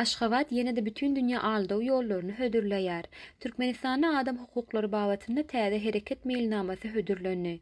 Aşgabat ýene-de bütin dünýä aldaw ýollaryny hödürleýär. Türkmenistanda adam hukuklary babatynda täze hereket meýilnamasy hödürlendi.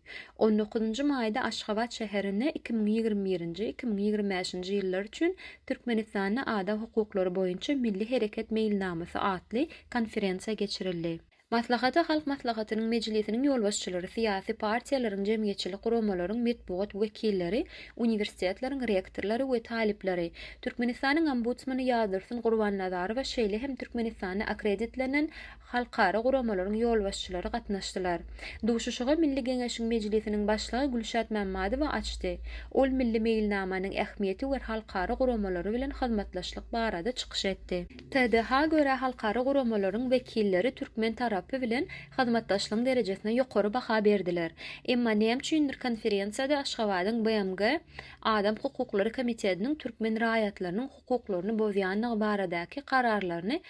On dokuzynjy maýda Aşgabat şäherinde iki müň ýigrimi birinji, iki müň ýigrimi bäşinji ýyllar üçin Türkmenistanda adam hukuklary boýunça milli hereket meýilnamasy atly konferensiýa geçirildi. Maslahata Halk Maslahatynyň Mejlisiniň ýolbaşçylary, syýasy partiýalaryň, jemgyýetçilik guramalaryň metbugat wekilleri, uniwersitetleriň rektorlary we talyplary, Türkmenistanyň Ombudsmany Ýazdursun Gurbannazarowa şeýle hem Türkmenistanda akkreditlenen halkara guramalaryň ýolbaşçylary gatnaşdylar. Duşuşygy Milli Geňeşiň Mejlisiniň Başlygy Gülşat Mämmadowa açdy. Ol milli meýilnamanyň ähmiýeti we halkara guramalary bilen hyzmatdaşlyk barada çykyş etdi. TDH görä halkara guramalaryň wekilleri türkmen tarapy bilen hyzmatdaşlygyň derejesine ýokary baha berdiler. Emma näme üçindir konferensiýada Aşgabadyň BMG Adam hukuklary komitetiniň türkmen raýatlarynyň hukuklaryny bozýandygy baradaky kararlaryny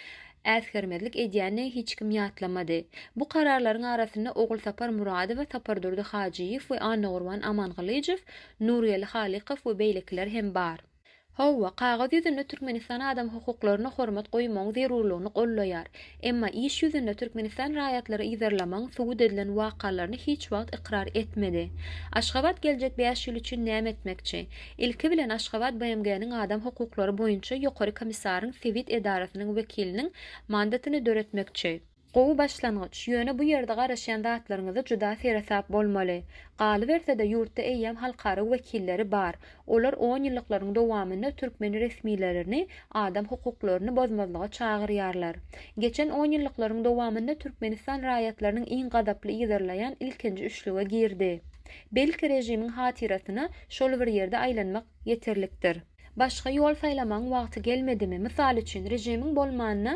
äsgermezlik edýändigi hiç kim ýatlamady. Bu kararlaryň arasynda Ogulsapar Muradowa, Sapardurdy Hajyýew we Annagurban Amangylyjow, Nurgeli Halykow we beýlekiler hem bar. Hawa, kagyz ýüzünde Türkmenistan adam hukuklaryna hormat goýmagyň zerurlygyny goldaýar. Emma iş ýüzünde Türkmenistan raýatlary yzarlamagyň subut edilen wakalaryny hiç wagt ykrar etmedi. Aşgabat geljek bäş ýyl üçin näme etmekçi? Ilki bilen Aşgabat BMG-niň Adam hukuklary boýunça Ýokary komissaryň sebit edarasynyň wekiliniň mandatyny döretmekçi. Gowy başlangyç, ýöne bu ýerde garaşýan zatlaryňyzy juda seresap bolmaly. Galyberse-de ýurtda eýýäm halkara wekilleri bar. Olar on ýyllyklaryň dowamynda türkmen resmilerini adam hukuklaryny bozmazlyga çagyrýarlar. Geçen on ýyllyklaryň dowamynda Türkmenistan raýatlarynyň iň gazaply yzarlaýan ilkinji üçlüge girdi. Belki režimiň hatyrasyna şol bir ýerde aýlanmak ýeterlikdir. Başga ýol saýlamagyň wagty gelmedimi? Mysal üçin, režimiň bolmanda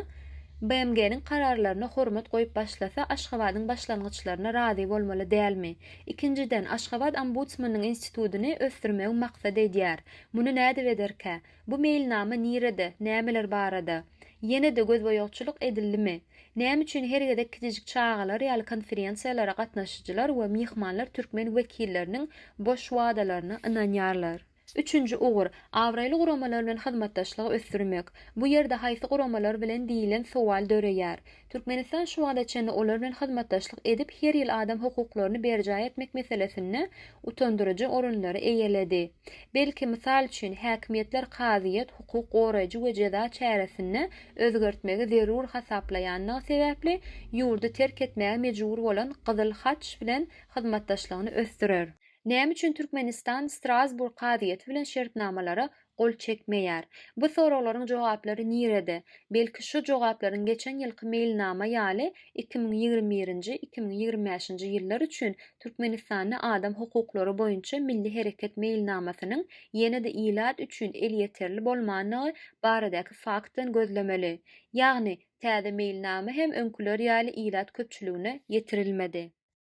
BMG-niň kararlaryna hormat goýup başlasa, Aşgabadyň başlangyçlaryna razy bolmaly dälmi? Ikinjiden, Aşgabat ombudsmanyň institutyny ösdürmegi maksat edýär. Muny nädip ederkä? Bu meýilnama nirede, nämeler barada? Ýene-de gözboýagçylyk edildimi? Näme üçin her gezek kiçijik çagalar ýaly konferensiýalara gatnaşyjylar we myhmanlar türkmen wekilleriniň boş wadalaryna ynanýarlar? Üçünji ugur, abraýly guramalar bilen hyzmatdaşlygy ösdürmek. Bu ýerde haýsy guramalar bilen diýlen sowal döreýär. Türkmenistan şu wagta çenli olar bilen hyzmatdaşlyk edip her ýyl adam hukuklaryny berjaý etmek meselesinde utandyryjy orunlary eýeledi. Belki, mysal üçin, häkimiýetler kazyýet, hukuk goraýjy we jeza çäresinde özgertmegi zerur hasaplaýandygy sebäpli ýurdy terk etmäge mejbur bolan Gyzyl Haç bilen hyzmatdaşlygyny ösdürer. Näme üçin Türkmenistan Strasburg kazyýeti bilen şertnamalara gol çekmeýär? Bu soraglaryň jogaplary nirede? Belki şu jogaplaryň geçen ýylky meýilnama ýaly iki müň ýigrimi birinji, iki müň ýigrimi bäşinji ýyllar üçin Türkmenistanda adam hukuklary boýunça milli hereket meýilnamasynyň ýene-de ilat üçin elýeterli bolmandygy baradäki faktdan gözlemeli. Ýagny, täze meýilnama hem öňküler ýaly ilat köpçüligine ýetirilmedi.